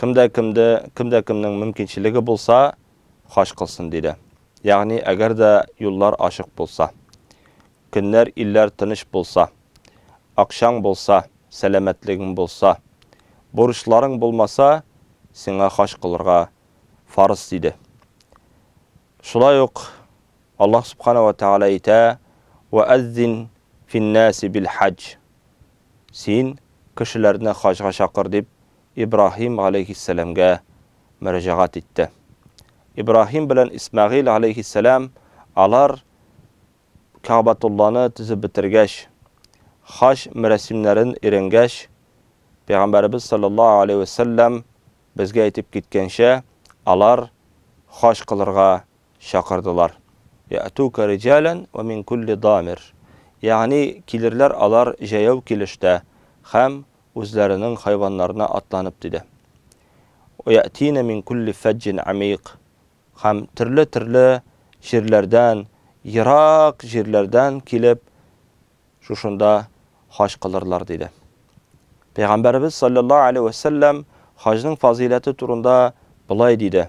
Кем дә кемде, кем дә кемнең мөмкинчелеге булса, хаҗ кылсын, диде. Ягъни, әгәр дә юллар ачык булса, көннәр, илләр тыныч булса, акчаң булса, сәламәтлегең булса, бурычларың булмаса, сиңа хаҗ кылырга фарыз, диде. Шулай ук Аллаһ Субхана ва Тәгалә әйтә, Вә әззин фин-наси бил-хаҗ. Син, кешеләрне хаҗга чакыр, дип, Ибраһим галәйһиссәламгә мөрәҗәгать итте. Ибраһим белән Исмәгыйль галәйһиссәлам, алар Кәгъбәтулланы төзеп бетергәч, хаҗ мәрасимнәрен өйрәнгәч, Пәйгамбәребез салләллаһу галәйһи вә сәлләм безгә әйтеп киткәнчә, алар хаҗ кылырга Чакырдылар. Я'тука риҗалән вә мин кулли дамир. Ягъни, килерләр алар җәяү килештә һәм үзләренең хайваннарына атланып, диде. Вә я'тина мин кулли фәҗҗин әмикъ. Һәм төрле-төрле җирләрдән, ерак җирләрдән килеп, шушында хаҗ кылырлар, диде. Пәйгамбәребез салләллаһу галәйһи вә сәлләм хаҗның фазыйләте турында болай диде,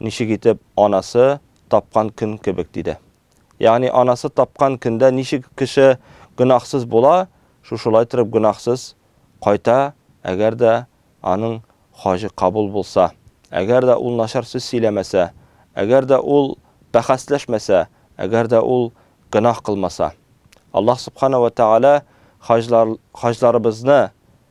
Ничек итеп анасы тапкан көн кебек, диде. Ягъни анасы тапкан көндә ничек кеше гөнаһсыз була, шушылай торып гөнаһсыз кайта, әгәр дә аның хаҗы кабул булса, әгәр дә ул начар сүз сөйләмәсә, әгәр дә ул бәхәсләшмәсә, әгәр дә ул гөнаһ кылмаса. Аллаһ Субхана вә Тәгалә хаҗлар, хаҗларыбызны